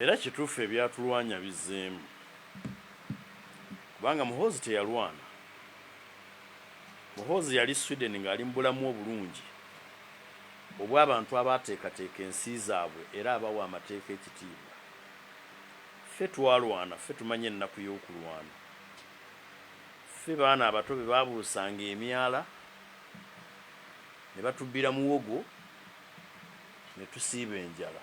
Era kituufu ebyatulwanya bizzeemu kubanga Muhoozi teyalwana. Muhoozi yali Sweden ng'ali mu bulamu obulungi obw'abantu abaateekateeka ensi zaabwe era abawa amateeka ekitiibwa. Ffe twalwana, ffe tumanyi ennaku y'okulwana. Ffe baana abato be baabuusanga emyala ne batubbira muwogo. ne tusiiba enjala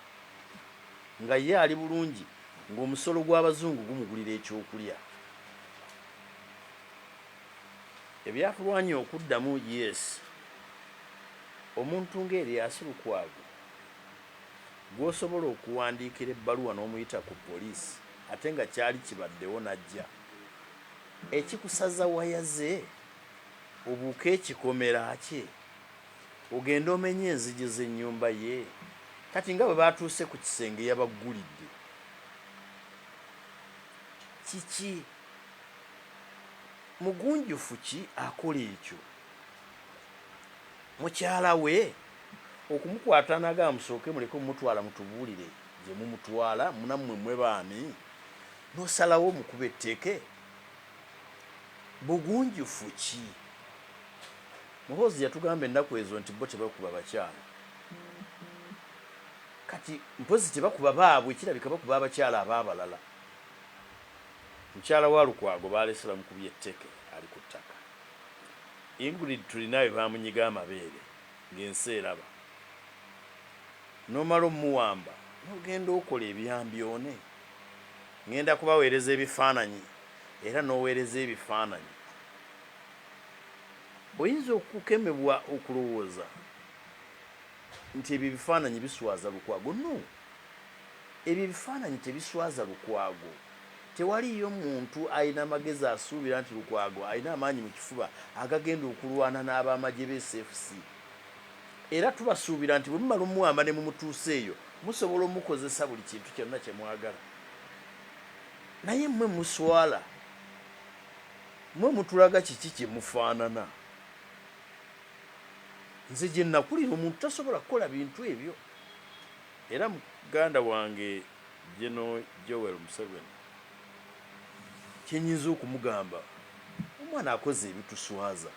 nga ye ali bulungi ng'omusolo gw'Abazungu gumugulira ekyokulya. Ebyakulwanya okuddamu Yes, Omuntu nga Erias Lukwago gw'osobola okuwandiikira ebbaluwa n'omuyita ku poliisi ate nga kyali kibaddewo n'ajja, ekikusaza waya ze obuuke ekikomera kye? Ogende omenye enzigi z'ennyumba ye? Kati nga bwe baatuuse ku kisenge yabaggulidde. Kiki? Mugunjufu ki akola ekyo? Mukyala we? Okumukwata n'agamba musooke muleke omutwala mutubuulire gye mumutwala, nammwe mmwe baani? N'osalawo omukube tteke? Bugunjufu ki? Muhoozi yatugamba ennaku ezo nti bo tebakuba bakyala. Kati mpozzi tebakuba baabwe kirabika bakuba abakyala ab'abalala. Mukyala wa Lukwago baalese bamukubye etteke ali ku ttaka. Ingrid Turinawe baamunyiga amabeere ng'ensi eraba. N'omala omuwamba n'ogenda okola ebyambyone. Ng'enda kubaweereza ebifaananyi era n'oweereza ebifaananyi. Oyinza okukemebwa okulowooza nti ebyo ebifaananyi biswaza Lukwago. No. Ebyo ebifaananyi tebiswaza Lukwago. Tewaliiyo muntu alina magezi asuubira nti Lukwago alina amaanyi mu kifuba agagenda okulwana n'ab'amagye be SFC. Era tubasuubira nti bwe mumala omuwamba ne mumutuusa eyo, musobola omukozesa buli kintu kyonna kye mwagala. Naye mmwe muswala. Mwe mutulaga kiki kye mufaanana? Nze gye nnakulira omuntu tasobola kukola bintu ebyo era muganda wange Gen. Joel Museveni kye nnyinza okumugamba omwana akoze ebituswaza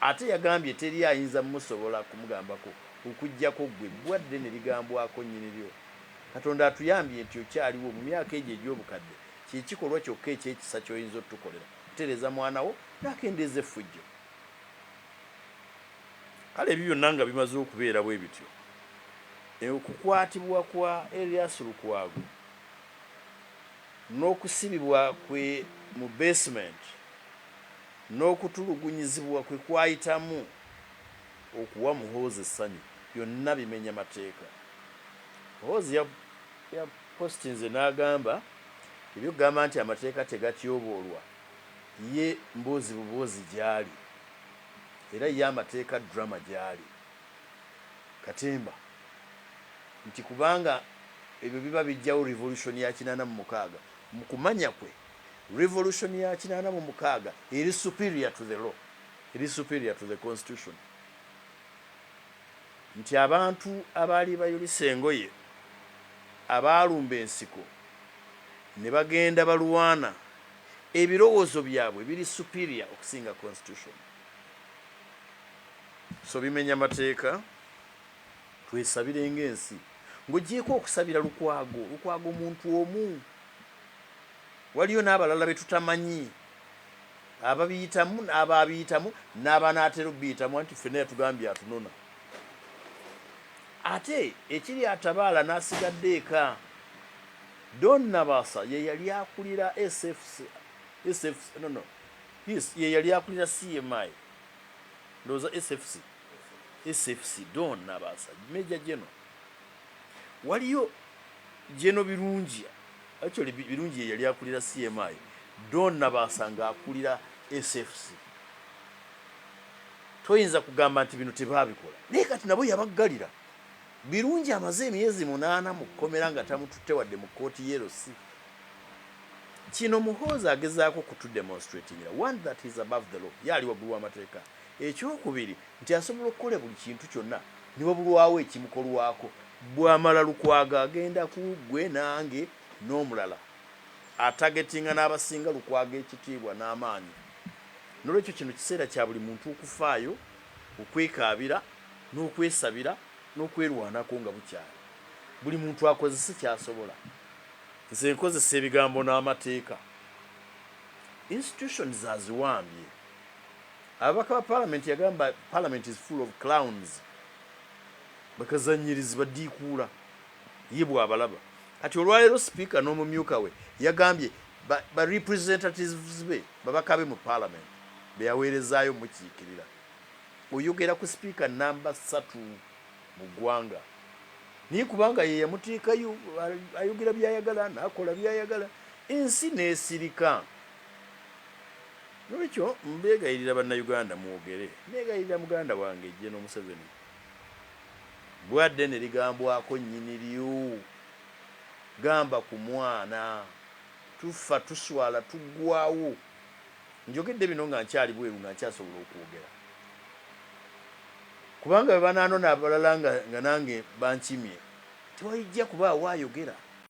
ate yagambye teri ayinza musobola kumugambako okuggyako ggwe bbwa ddene ligambwako nnyiniryo. Katonda atuyambye nti okyaliwo mu myaka egyo egy'obukadde Kye kikolwa kyokka eky'ekisa ky'oyinza otukolera, kutereeza mwana wo n'akendeeza effujjo. Kale ebyo byonna nga bimaze okubeera bwe bityo, e, okukwatibwa kwa Erias Lukwago n'okusibibwa kwe mu beesimenti n'okutulugunyizibwa kwe kwayitamu okuwa Muhoozi essanyu byonna bimenya mateeka. Muhoozi ya, ya, Post nze nagamba ebyokugamba nti amateeka tegatyoboolwa ye mboozi buboozi gyali era ye amateeka drama gyali katemba nti kubanga ebyo biba bijjawo revolution ya kinaana mu mukaaga mu kumanya kwe revolution ya kinaana mu mukaaga eri superior to the law eri superior to the constitution. nti abantu abaali bayulise engoye abaalumba ensiko ne bagenda balwana ebirowoozo byabwe biri superior okusinga constitution so bimenya mateeka twesabire nga ensi ng'ogyeko okusabira Lukwago Lukwago muntu omu waliyo n'abalala betutamanyi ababiyitamu n'abaabiyitamu n'abanaatera okubiyitamu anti ffenna yatugambye atunona ate ekiri atabaala n'asigadde eka don nabasa ye yali akulira ye yali akulira cmi ndowooza sfc sfc don nabasa meja geno waliyo geno birungi Actually Birungi ye yali akulira CMI, Don Nabaasa ng'akulira SFC. Toyinza kugamba nti bino tebaabikola. Naye kati nabo yabaggalira. Birungi amaze emyezi munaana mu kkomera nga tamututte wadde mu kkooti ye LC. Kino Muhoozi agezaako kutudemonstratingira, one that he's above the law, ye ali waggulu w'amateeka. Ekyokubiri. Nti asobola okukola buli kintu kyonna ne wabulwawo ekimukolwako. Bw'amala Lukwago agenda ku ggwe nange n'omulala atagetinga n'abasinga Lukwago ekitiibwa n'amaanyi. N'olwekyo kino kiseera kya buli muntu okufaayo okwekaabira n'okwesabira n'okwerwanako nga bukyali. Buli muntu akozese ky'asobola. Nze nkozesa ebigambo n'amateeka. Institutions aziwambye. Ababaka ba palamenti yagamba palamenti is full of clowns bakazanyirizi badiikuula ye bwabalaba kati olwaleero sipiika n'omumyuka we yagambye ba, ba representatives be babaka be mu palamenti beyaweerezaayo mukiikirira oyogera ku sipiika namba satu mu ggwanga naye kubanga ye yamuteekayo ayogera byayagala nakola byayagala ensi nesirika Nolwekyo mbegayirira banna Uganda mwogere, negayirira muganda wange General Museveni bwa ddene ligambwako nyini lyo gamba ku mwana, tuffa tuswala tuggwawo, njogedde bino nga nkyali bweru nga nkyasobola okwogera kubanga bwebananona abalala nga nange bankimye tewaijja kubaawo ayogera.